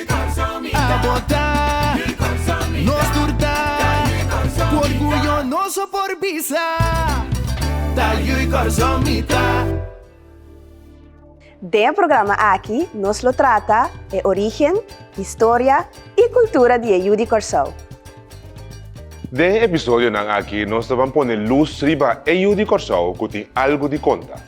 A bota, nos tur ta Ku orguyo nos a por bisa Ta yu i kòrsou mi ta. Den e programa aki nos lo trata e origen, historia i kultura di e yu di Kòrsou. Den e episodionan aki nos ta ban pone lus riba e yu di Kòrsou ku tin algu di konta.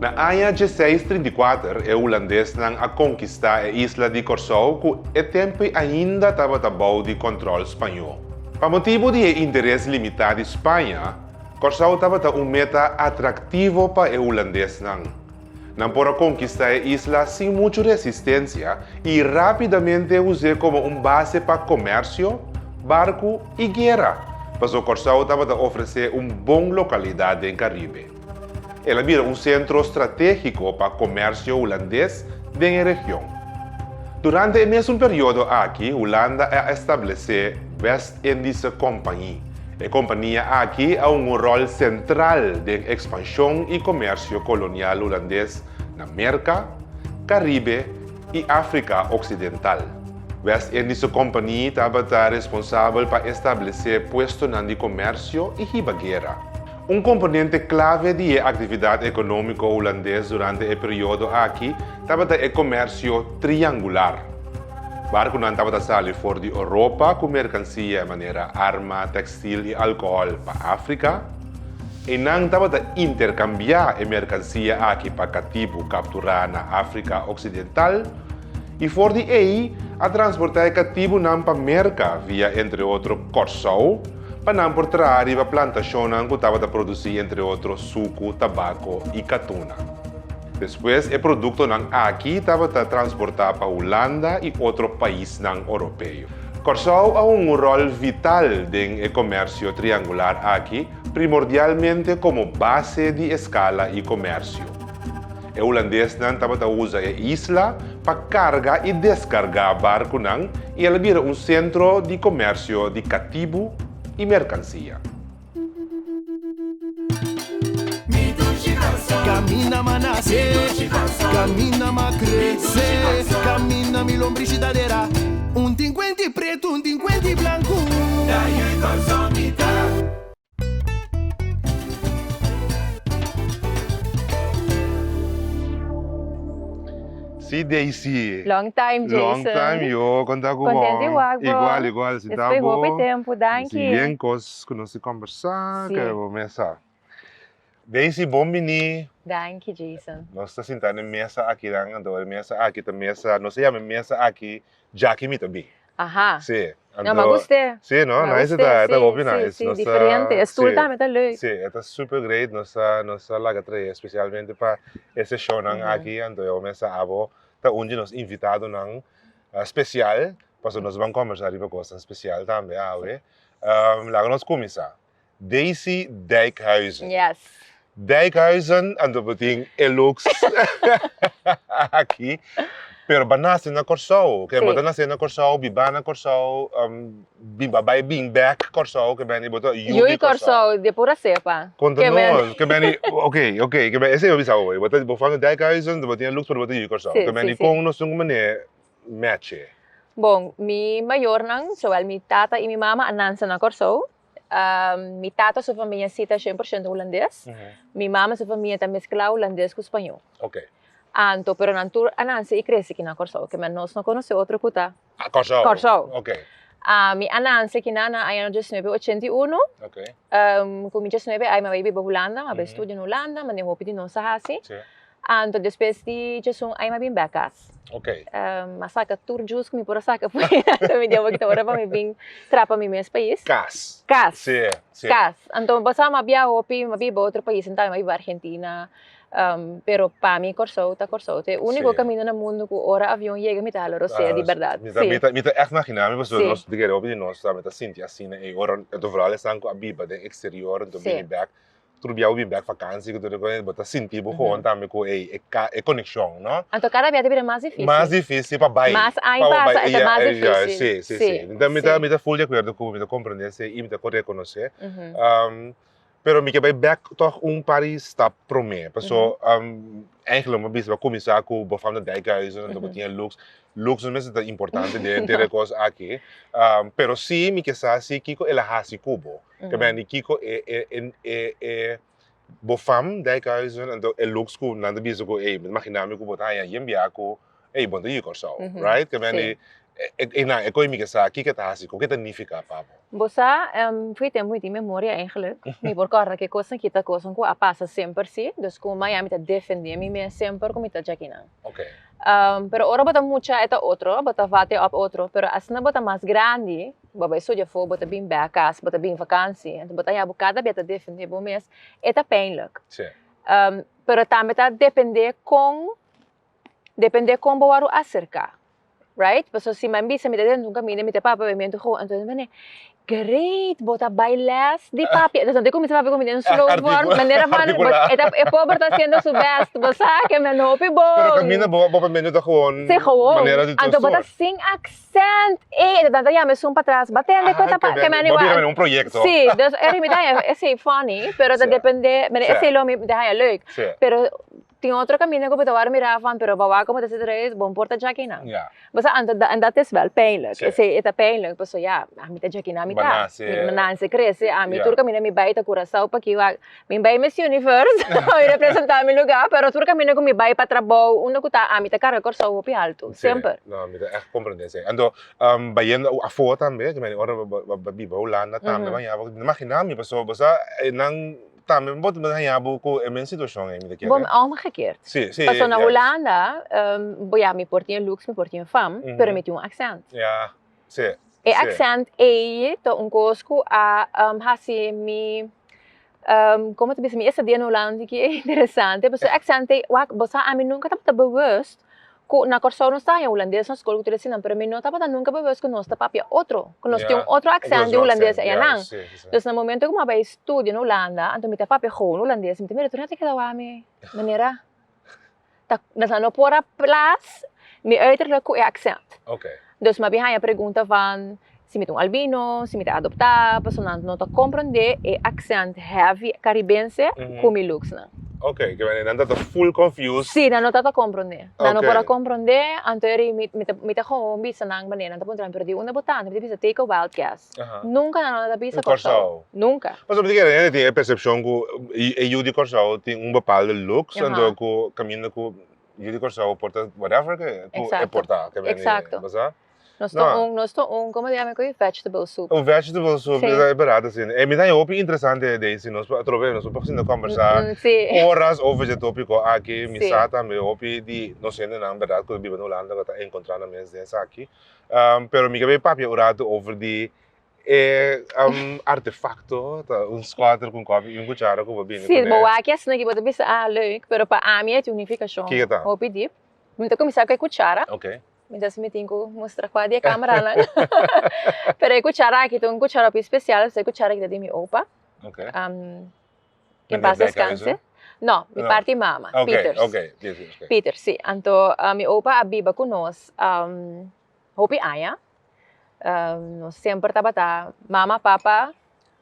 Na aña djeseis trinta i kuater e hulandesnan a konkistá e isla di Kòrsou ku e tempu ainda tabata bou di kòntròl spañó. Pa motibu di e interes limitá di Spaña, Kòrsou tabata un meta atraktivo pa e hulandesnan. Nan por a konkistá e isla sin muchu resistensia i rápidamente us'é komo un base pa komèrsio, barku i guera, pasobra Kòrsou tabata ofresé un bon lokalidat den Karibe. El a bira un sentro stratégiko pa komèrsio hulandes den e region. Durante e mesun periodo aki Hulanda a establesé West. e di se kompañi. E kompania aki a hunga un ròl sentral den ekspanshon i komersio kolonial hulandes na Merka, Karibe i Afrika oksidental. West Indies su kompani tabata responsabel pa establesé puestonan di komersio i hiba guera. Un komponente klave di e aktividat ekonómiko hulandes durante e periodo aki tabata e komèrsio triangular. Barkunan tabata sali for di Oropa ku merkansia manera arma, tèkstil i alkohòl pa Afrika. Einan tabata interkambiá e merkansia aki pa katibu kapturá na Afrika oksidental. i for di ei a transportá e katibunan pa Merka via entre otro Kòrsou pa nan por traha riba plantashonnan ku tabata produsí entre otro suku, tabako i katuna. Despues e produktonan aki tabata transportá pa Hulanda i otro paisnan oropeo. Kòrsou a hunga un ròl vital den e komèrsio triangular aki, primordialmente komo base di eskala i komèrsio. E hulandesnan tabata usa e isla pa carga y descarga barconan y el a bira un centro di comercio di catibu y mercancia. Si Daisy. Long time Jason. Long time yo konta ku bo. Kontent di wak bo. Igual igual si ta bo. Despues hopi tempu danki. Disi bien kos ku nos a kombersá. Si. Ke bo mester sa. Daisy, bon bini. Danki Jason. Nos ta sinta den mesa akinan anto e mesa aki ta mesa, nos a yama e mesa aki Jackie mi ta bin. Aha. Si. Anto. No, ma guste. Si no, nice e ta, e ta hopi nice. Si, si, si, diferente. E stoel tambe ta leuk. Si, e ta super great. Nos ta, nos ta laga trahe especialmente pa e seshonan aki, anto e mesa abo ta un di nos invitadonan special, pasobra nos ban combersa riba cosnan special tambe awe. Laga nos cuminsa. Daisy Dijkhuizen. Yes. Dijkhuizen a ta tin e looks aki, pero ba nase na Kòrsou. Ke bo ta nase na Kòrsou, biba na Kòrsou, biba bai bin bèk Kòrsou, ke beni bo ta yubi Kòrsou. Yu Kòrsou, di pura sepa. Konta nos, ke beni, ok, ok, ke beni, esei bo bisa awor. Bo fami Dijkhuizen, bo tin e looks pero bo ta yubi Kòrsou. Ke beni kon nos tin ku manera. mèche? Bon, mi mayornan, zowel mi tata i mi mama a nansa na Kòrsou. Mi tata su famia si ta shen por shento hulandes. Mi mama su famia ta meskla hulandes ku spañó. Oke. Anto, pero nan tur a nanse i krese aki na Kòrsou. Kèmen nos no konosé otro ku ta. A Kòrsou. Kòrsou. Oke. Mi a nanse aki nan na aña diasnuebe ochenta i unu. Oke. Ku mi diasnuebe ai mi a bai biba Hulanda, mi a bai studia na Hulanda, manera hopi di nos a hasi. Sí. Anto despues di djesun ai mi a bin bek kas. Ok. Mi a saka tur djus ku mi por a saka p'e anto mi diaboki ta ora pa mi bin trapa mi mes pais. Kas. Kas. Si, si. Kas. Anto mi pensaba mi a biaha hopi, mi a biba otro pais sentaba mi a biba Argentina, pero pa mi Kòrsou ta Kòrsou. Ta e úniko kaminda na mundu ku ora avion yega mi ta hala rosea di bèrdat. Si. Mi ta èk maginá mi pasobra nos tigera hopi di nos tambe ta sinti asina ei. Ora e otro vrouwnan esnan ku a biba den eksterior, anto bini bèk tur bia bo bin bek vakansi ku tur e kos bo ta sinti bo hoon tambe ku ei e ka e konekshon no. Anto kada bia ta bira mas difísil. Mas difísil pa bai. Mas ai pa bo bai mas difísil. Si si si mi ta mi ta mi ta full di akuerdo ku bo mi ta komprende esei i mi ta por rekonosé pero mi ke bai bek tog un par di stap promé paso eihek lo mi ta bisa bo kuminsá ku Bofam ta Dijkhuizen anto bo tin Lux Lux no mester ta importante den der e kos aki pero si mi ke sa si kiko el a hasi ku bo. te ben di kiko e e e e e bo fam dijkhuizen anto e looks ku nan ta bisa ku ey mi ta imagina mi ku bo ta haña yen biaha ku ey bo no ta yu Kòrsou right te ben di e nan e koe mi ke sa kiko e ta hasi koke ta nifiká pa bo. Bo sa Fritz tem hopi di memoria eigenlijk mi por kòrda ke kos nan kita kosan ku a pasa semper si dus ku Miami ta defendé mi mes semper ku mi ta djaki nan pero ora bo ta mucha e ta otro bo ta vate òp otro pero asina bo ta mas grandi Bo bai studia for, bo ta bin bè akas, bo ta bin vakansi, anto bo ta haña bo kada bia ta defendé bo mes, e ta pijnlijk. Sí. Pero tambe ta dependé kon, dependé kon bo wòrdu aserká, right? Pasobra si mi bisa mi ta den di un kaminda, mi ta papia papia, mi anto ho, anto nan manera, Great, bo ta bai lès di papia? Entonces nan ta kuminsá papia ku mi den un slow wòrdu, manera fana, e ta, e pober ta hasiendo su bèst, bo sa ke nan hopi bon. Pero kaminda bo papia mi anto ta gewoon manera di tur sòrt. Anto bo ta sin aksen. Send e ta tanta yama esun patras ba tende cu e ta pasa. Bo bira mene un proyecto. Si, dus e riba mi ta haña esey funny, pero ta depende, mene esey lo mi ta haña leuk. Pero tin otro caminda cu bo ta word mira van pero bo wak como ta hasi reis, bo por ta jaki nan. Bosa anto en dat is wel pijnlijk, esey e ta pijnlijk pasobra ya, ami ta jaki nan mi ta, mi nace, crece, ami tur caminda mi bay ta Curacao paki wak. Mi bai Miss Universe pa mi representa mi lugar pero tur caminda cu mi bai pa trabou unda cu ta ami ta carga Corsou hopi alto semper. No mi ta echt comprende esey. Anto bayendo afo tambe cu mi ora bo biba Hulanda tambe bo hañaboso mi ta imagina mi paso boso e nan tambe bo ta hañabo cu e mes situacion ey mi ta kere. Bo omgekeerd paso na Hulanda bo ya mi por tin e looks mi por tin e fam pero mi tin un accent Sí, E sí. accent ei ta un cos cu a um, haci mi, um, como te bisa, mi esta dia na Holland hiki e interesante, pasobra e accent ei, wak, bo sa, ami nunca tabata bewust cu na Corsou nos ta haña Hulandes na school cu tur e sinan, pero mi no tabata nunca bewust cu nos ta papia otro, cu nos tin un otro accent di Hulandes ei nan. Dus na momento cu mi a bai studia na Holanda, anto mi ta papia gou Hulandes, mi ta mira tur nan ta keda wak mi manera. ta sa no por a plas mi uiterlijk ku e aksènt. Oké. Dus mabien haña pregunta van si mi ta un albino, si mi ta adoptá, paso nan no ta komprondé e aksènt heavy karibense ku mi looksnan. Oké, ke manera nan ta ta full confused. Sí, nan no ta ta komprondé. Nan no por a komprondé, anto eri mi ta mi ta gou bisa nan manera nan ta puntra mi, pero di unda bo ta? Mi ta bisa take a wild guess. Nunca nan a ta bisa Kòrsou. Nunca. Pasobra di kere hende tin e persepshon ku e yu di Kòrsou tin un bepalde luks anto ku kaminda ku yu di Kòrsou por ta whatever ke e por ta. Eksakto. Nos ta un nos ta un como se yama e vegetable soup. Un vegetable soup e berat asi. Mi ta haña hopi interesante Daisy nos por atrobe nos por tok asina kombersá oras over dje topiko aki mi sa tambe hopi di nos hendenan bèrdad ku ta biba den Hulanda ku ta enkontrá nan mes den esaki. Um, pero mi ka bin papia un ratu over di e um, artefacto, ta un scuater con coffee y un cuchara cu bo bini Si, bo waki asina ki bo ta bisa, ah, leuk, pero pa ami e tin un nificacion Kiko ta? hopi dip. Mi ta cuminsa cu e cuchara, Ok. mi dess mi tin cu mustra cua di e cameranan. Pero e cuchara aki ta un cuchara hopi special, pasobra e cuchara aki ta di mi opa. Ok. Um, Ken pas descanse? No, mi No. parti mama, Oké, Pieters. oké, Pieters, oké. Pieter, sí. Anto ah, mi opa a biba cu nos am, hopi aña. Ah, nos semper tabata mama, papa,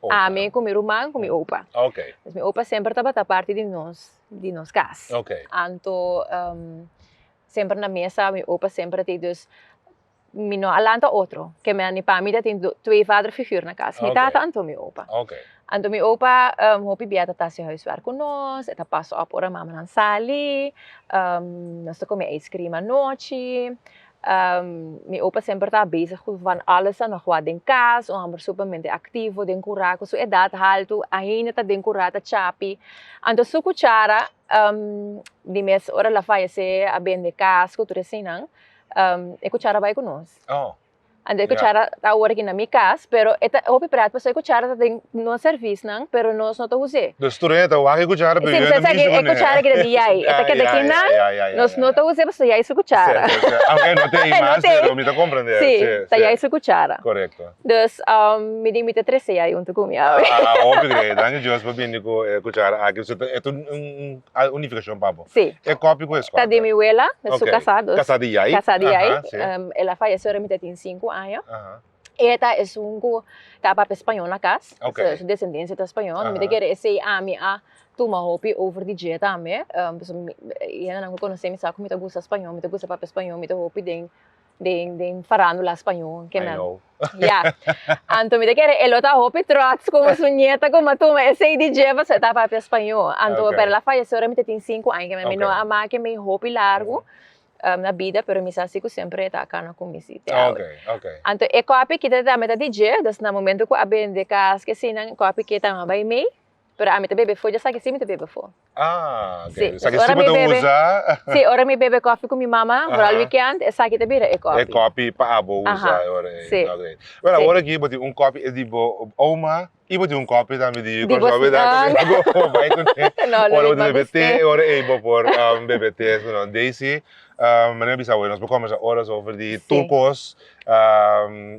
Opa. ami cu mi ruman cu mi opa. Oké, Dus mi opa semper tabata parti di nos, di nos cas. oké. Anto, ehm, semper na mesa, mi opa semper a tei, dus mi no a lanta otro ke mi a ni pa mi tatin twee vader figuur na kas mi tata anto mi opa anto mi opa hopi bia ta ta hasi huiswerk ku nos e ta pas op ora mamanan sali nos ta kome ijskrim anochi mi opa semper ta bezig ku van alles ta nog wak den kas un hòmber supermente aktivo den kura ku su edat haltu ainda ta den kura ta chapi anto su kuchara di mes ora el a fayesé a bende kas ku tur e sinan. um, e cuchara bai cu nos. Oh. Ande yeah. cuchara ta ahora aquí na mi cas, pero eta hopi prat paso e cuchara ta den no service nan, pero nos no ta use. Dus tu reta wagi cuchara pero yo no mi E cuchara que de yai, eta que de aquí nan, nos no ta use paso yai su cuchara. Aunque no te imas, pero mi ta comprende. Sí, ta yai su cuchara. Correcto. Dus um mi di mi te trece yai un tucum ya. Ah, hopi grei, dank Dios pa bindi cu cuchara aquí. So, eto un Ah, un nificacion pa bo. Sí. E copy cu e scorda. Ta di mi wela, na su Ok. casá dos. Casá di jai. Casá di jai. Aha, sí. Em, el a fayece ora mi ta tin cinco aña. Aha. E ta esun cu ta papia español na cas. Ok. So, su descendencia ta español. Aha. Mi ta kere esei ami a tuma hopi over di dje tambe. Em, pasobra mi, e hendenan cu conoce mi sa cu mi ta gusta español, mi ta gusta papia español, mi ta hopi den den den farandula spañó ke nan. Ya. Anto mi ta kere e lo ta hopi trots kuma su nieta kuma tuma esei di dje paso e ta papia spañó. Anto pape el a fayese ora mi ta tin sinku aña kende mi no a make mi hopi largu na bida pero mi sa si ku semper e ta kana ku mi si te awe. Anto e kopi kita ta meta di dje, dus na momento ku a bende kas ke asina kopi ke ta maba imei. Pero ami ta bebe fo, dja sa kisi mi ta bebe fo. Ah, ok. Sa kisi bo ta usa. Si, ora mi bebe kofi ku mi mama, foral wikènt, esaki ta bira e kofi. E kofi pa abo usa e ora ei. Si. Ok. Wèl, awor aki bo tin un kofi di bo oma i bo tin un kofi tambe di bo sògru, bida? Tambe bo por bai ku nan. No, no. Ora bo ta bebe te, e ora ei bo por bebe te. Daisy, manera mi bisa awor ei, nos por kòmbersa oras over di tur kos.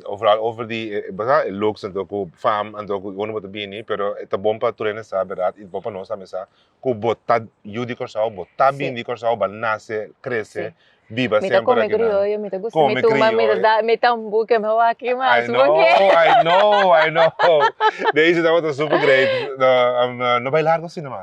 Vooral over di e looks anto ku fam anto ku unu bo ta bini pero ta bon pa tur hende sa berdad i ta bon pa nos tambe sa ku bo ta yu di Kòrsou bo ta bini di Kòrsou bo a nase krese biba semper aki nan mi ta kome krioyo mi ta gusta mi tuma mi ta da mi ta buke mi waki mas porque I know I know I know Daisy tabata super great no bai largo asina mas.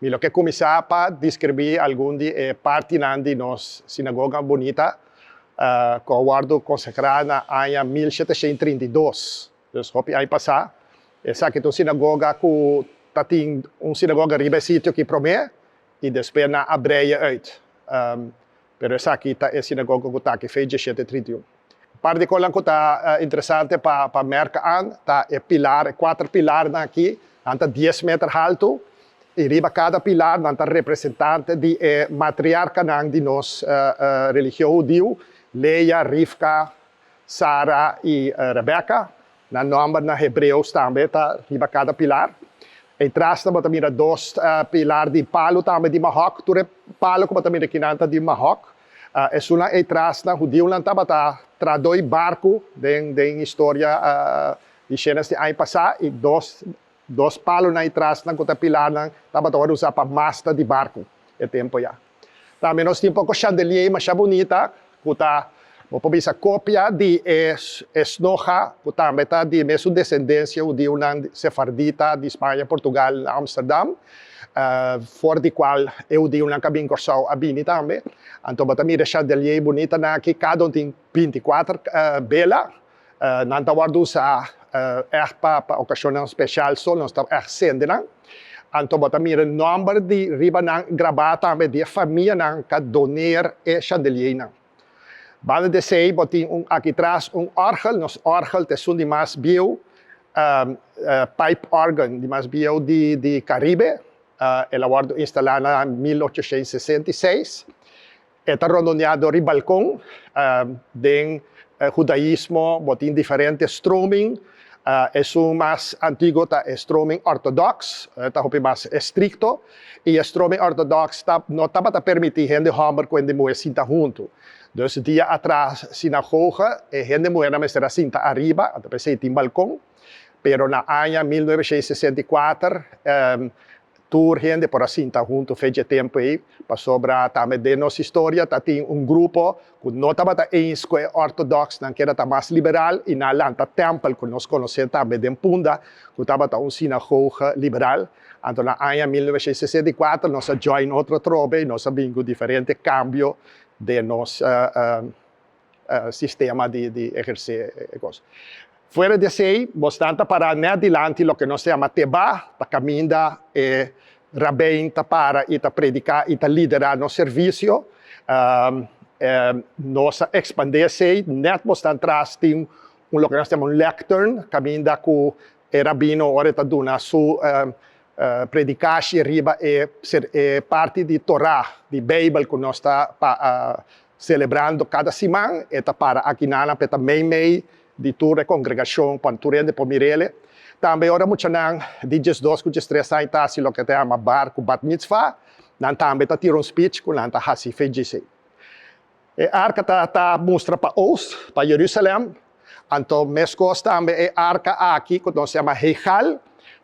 Mi lo ke kuminsá pa deskribí algun di e partinan di nos sinagoga bunita ku a wòrdu konsagrá na aña mil sheteshent trinta i dos, dus hopi aña pasá. Esaki ta un sinagoga ku ta tin un sinagoga riba e sitio ki promé i despues nan a breia uit. Pero esaki ta e sinagoga ku ta aki Fe dieshete trinta i un. Un par di kosanan ku ta interesante pa pa mèrk an ta e pilar, e kuater pilarnan aki, nan ta dies meter haltu i riba kada pilar nan ta representante di e matriarkanan di nos religion hudiu, Lea, Rivka, Sara i Rebeka. Na nòmber na hebreos tambe ta riba kada pilar. E trasnan bo ta mira dos pilar di palu tambe di mahòk. Tur e palu ku bo ta mira akinan ta di mahòk. Esunnan e trasnan hudiunan tabata tradoi barku den historia di Shenas di aña pasá i dos dos palu na e trasnan ku ta pilarnan tabata ora usá pa masta di barku e tempu ya. Tambe nos tin poko shandelier masha bunita ku ta bo por bisa kopia di e esnoha ku tambe ta di mesun desendensia hudiunan sefardita di Spaña, Portugal na Amsterdam, for di kual e hudiunan ku a bin Kòrsou a bini tambe. Anto bo ta mira e shandelier bunitanan aki, kada un tin binti kuater bela. Nan ta wòrdu usá èg pa okashonnan speshal, so nos ta èg sende nan. Anto bo ta mira nòmber di riba nan grabá tambe di e famianan k'a doneer e shandeliernan. Banda di esei bo tin un akitras un òrgel, nos òrgel ta esun di mas bieu, pipe organ, di mas bieu di Karibe. El a wòrdu instalá na mil ochoshentus sesenta i seis. E ta rondoneá dor di balkon. Den hudaismo bo tin diferente stroming. Esun mas antiguo ta e stroming ortodox, e ta hopi mas estrikto. I e stroming ortodox no tabata permití hende hòmber ku hende muhé sinta huntu. Dus dia atras sinagoga e hende muhé nan mester a sinta ariba, anta p'esei tin balkon. Pero na aña mil novecientos sesenta i kuater Tur hende por a sinta huntu fecha e tempu ei pasobra tambe den nos historia ta tin un grupo ku no tabata eins ku e ortodoks, nan keda ta mas liberal i nan a lanta tèmpel ku nos konosé tambe den Punda ku tabata un sinagoge liberal. Anto na aña mil noveshientos sesenta i kuater nos a join otro trobe i nos a bin ku diferente kambio den nos. sistema di ehersé e kos. Fuera di esei, bosnan ta pará nèt dilanti loke nos ta yama tebá, ta kaminda e rabèin ta para i ta prediká i ta liderá nos servisio. Nos a ekspandé esei, nèt bosnan tras tin un loke nos ta yama un lèktern, kaminda ku e rabino ora e ta duna su predikashi riba e parti di Torá, di Beibel ku nos ta Celebrando cada siman e ta para aki nan nan p'e ta mei mei di tur e congregacion cuando tur hende por mir'ele. Tambe ora muchanan di diesdos cu diestres aña ta haci loke ta yama bar cu bat mitzvá, nan tambe ta tira un speech cu nan ta haci fe djis ei. E arca ta ta mustra pa oost, pa Jerusalem. Anto meskos tambe e arka aki ku nos yama heigal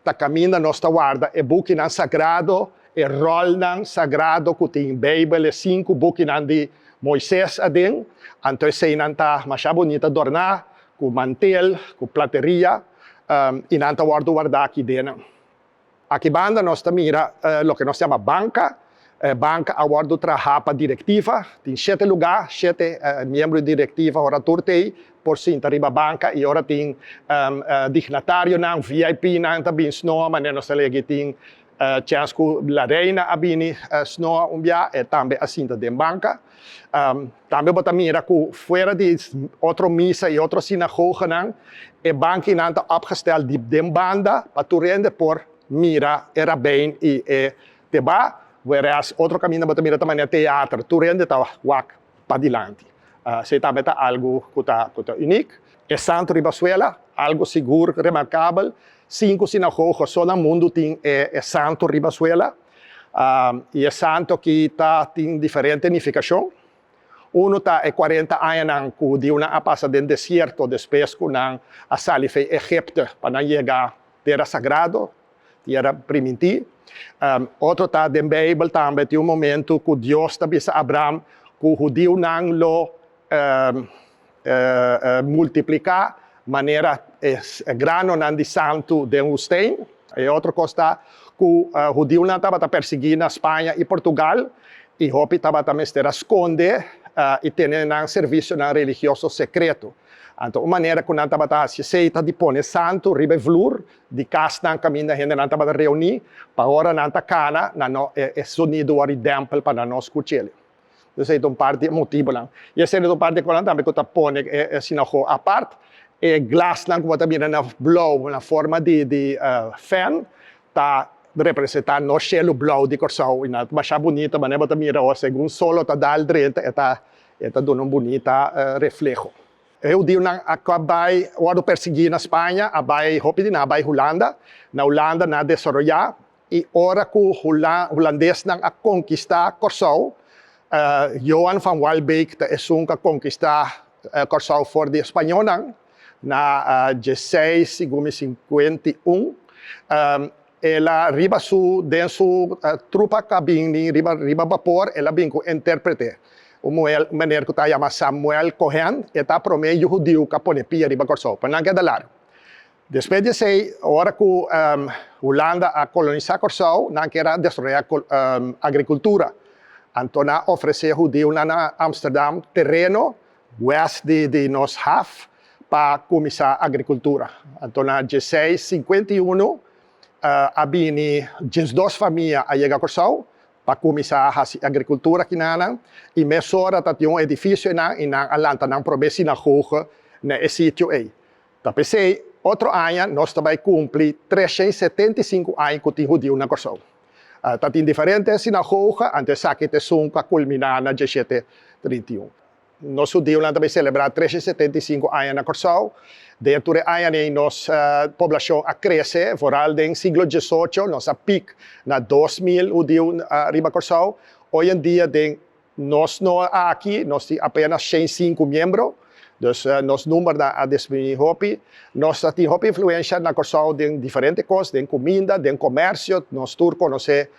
ta kaminda nos ta warda e bukinan sagrado, e ròlnan sagrado ku tin Beibel, e sinku bukinan di Moises aden. Anto eseinan ta masha bonita adorná ku mantel, ku plateria, i nan ta wòrdu wardá aki dena. Aki banda nos ta mira loke nos ta yama banka. E banka a wòrdu trahá pa direktiva. Tin shete lugá, shete miembro di direktiva, ora tur ta ei, por sinta riba banka i ora tin dignatarionan, VIPnan ta bin snoa, manera nos ta lei aki tin chèns ku La Reina a bini snoa un biaha, e tambe a sinta den banka. Tambe bo ta mira ku fuera di otro misa i otro sinagoganan, e bankinan ta opgestel diep den banda pa tur hende por mira e rabèn i e tebá, whereas otro kaminda bo ta mira ta manera teater, tur hende ta wak padilanti. Esei tambe ta algu ku ta uniek. E santu riba suela, algu sigur remarkabel, sinku sinagoga so na mundu tin e santu riba suela. I e santu aki ta tin diferente nifikashon. Unu ta e kuarenta añanan ku hudiunan a pasa den desierto despues ku nan a sali fe Egipto pa nan yega tera sagrado, tera primintí. Otro ta den Beibel tambe tin un momentu ku Dios ta bisa Abraham ku hudiunan lo. multipliká manera e granonan di santu den hustén. E otro kos ta ku hudiunan tabata persiguí na Spaña i Portugal i hopi tabata mester a skonde i tene nan servisionan religioso sekreto. Anto un manera ku nan tabata hasi esei ta di pone santu riba e vloer di kasnan kaminda hendenan tabata reuní pa ora nan ta kana nan e sonido wòrdu dèmpel pa nan no skuch'el. Entonces ey ta un parti e motibonan. Y esey ta un parti conan tambe cu ta pone e sinagoga apart. E glasnan cu bo ta mira na blauw, na forma di fan, ta representa nos cielo blauw di Corsou. Y na masha bunita, manera bo ta mira awo, segun sol lo ta dal drenta, e ta, e ta duna un bunita refleho. E hudionan a cab bay, wordo persegui na Spanja, a bay, hopi di nan a bay Hulanda. Na Hulanda nan a desaroya. I ora ku hulandesnan a konkistá Kòrsou, Johan van Waalbeek ta esun ku a konkistá Kòrsou for di e spañolnan na djeseis, si gumi sinkuenta i un. El a riba su, den su trupa ku a bin riba bapor, el a bin ku un intèrprete, un muhel, un meneer ku ta yama Samuel Cohen, e ta promé yu hudiu ku a pone pia riba Kòrsou. P'e nan keda largu. Despues di esei, ora ku Hulanda a kolonisá Kòrsou, nan kier a desroyá agrikultura. Anto nan a ofresé hudiunan na Amsterdam tereno wèst di nos haf pa kuminsá agrikultura. Anto na djieseis sinkuenta i unu a bini djiesdos famia a yega Kòrsou pa kuminsá hasi agrikultura kinanan i mesora ta tin un edifisio einan i nan a lanta nan promé sinagoge na e sitio ei. Ta p'esei, otro aña nos ta bai kumpli tresha i setenta i sinku aña ku tin hudiu na Kòrsou. Ta tin diferente sinagoga anto esaki ta esun ku a kulminá na dieshete trinta i un. Nos hudiunan ta bai selebrá tresha i setenta i sinku aña na Kòrsou. Den e tur e aña nei nos poblashon a krese. Foral den siglo diesocho nos a pik na dos mil hudiu riba Kòrsou. Oyendia den Nos no a aki, nos tin apenas shen sinku miembro, dus nos numbernan a disminuí hopi. Nos ta tin hopi influensha na Kòrsou den diferente kos, den kuminda, den komèrsio, nos tur konosé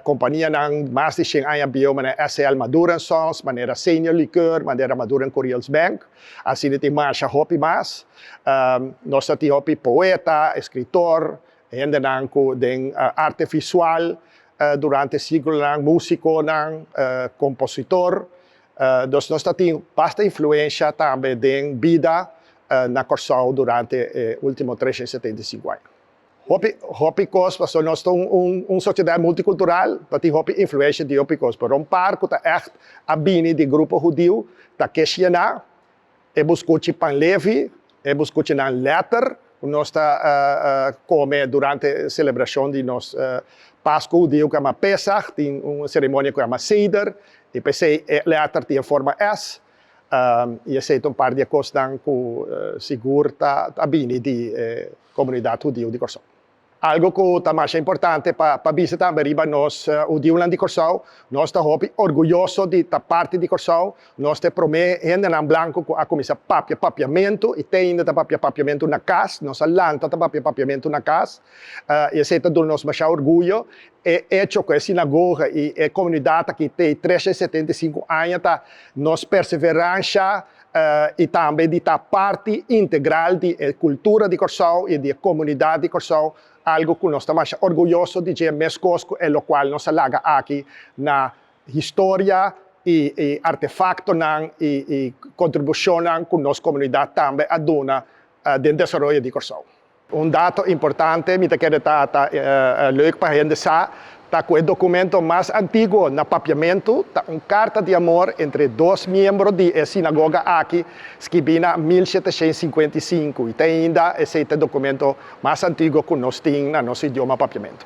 kompanianan mas di shen aña bieu manera SL Madura en Sons, manera Senior Liqueur, manera Madura en Curiels Bank. Asina tin marsha hopi mas. Nos ta tin hopi poeta, eskritor, Hendenan ku den arte visual durante e siglonan, músikonan, kompositor, dus nos ta tin basta influensha tambe den bida na Kòrsou durante e último tresha i setenta i sinku aña. Hopi hopi kos pasobra nos ta un sosiedat multikultural ta tin hopi influensha di hopi kos pero un par ku ta ègt a bini di grupo hudiu ta Keshiena, E bo scuchi pan lefi, e bo scuchi nan letter cu nos ta come durante e celebracion di nos Pascu hudiu cu ama Pesach, tin un ceremonia cu ama Seder, y p'esey e letter tin e forma S, y esey ta un par di e cosnan cu sigur ta bini di e comunidad hudiu di Corsou. Algo ku ta masha importante pa bisa tambe riba nos hudiunan di Kòrsou, nos ta hopi orguyoso di ta parti di Kòrsou. Nos ta e promé hendenan blanku ku a kuminsá papia papiamentu i teinda ta papia papiamentu na kas. Nos a lanta ta papia papiamentu na kas i esei ta duna nos masha orguyo. E echo ku e sinagoga i e komunidat aki t'ei tresha i setenta i sinku aña ta nos perseveransha i tambe di ta parti integral di e kultura di Kòrsou i di e komunidat di Kòrsou, algu ku nos ta masha orguyoso di dje meskos ku e lokual nos a laga aki na historia i e artefaktonan i kontribushonnan ku nos komunidat tambe a duna den desaroyo di Kòrsou. Un dato importante mi ta kere ta ta leuk pa hende sa ta ku e dokumento mas antiguo na papiamentu ta un karta di amor entre dos miembro di e sinagoga aki skibí na mil sheteshents sinkuenta i sinku i ta ainda esei ta e dokumento mas antiguo ku nos tin na nos idioma papiamentu.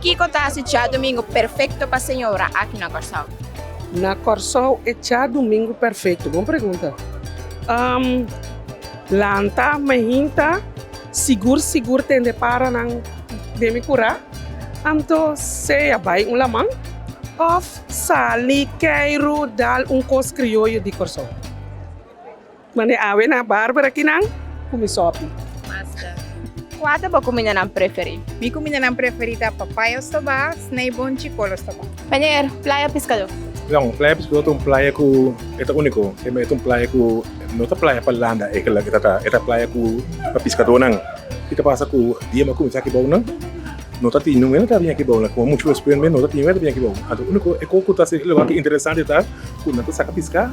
Kiko ta hasi Djadumingu perfekto pa señora aki na Kòrsou? Na Kòrsou e Djadumingu perfekto? Bon pregunta. Umm lanta mehinta sigur sigur tende para nan den mi kura anto sea bai un laman òf sali kei ru dal un kos krioyo di Kòrsou. Mane awe na barber aki nan cu mi sopi. Masta. Cua ta bo cuminda nan preferi? Mi cuminda nan preferi ta papaya ostobá, snei bon chicol ostobá. Meneer, playa piscado. Jong, playa piscado ta un playa cu e ta unico. Tema e ta un playa cu no ta playa pa landa e la e ta ta. E ta playa cu pa piscado nan. Ki ta pasa cu dia bo cuminsa aki bao nan no ta tin nungue ta bini aki bao nan. Con mucho respeto, no ta tin nungue ta bini aki bao. Anto unico e co cu ta haci e lugar interesante ta cu nan ta saca pisca.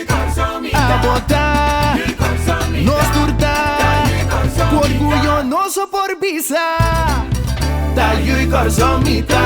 A botá, nos tur ta Ku orguyo nos a por bisa Ta yu i kòrsou mi ta.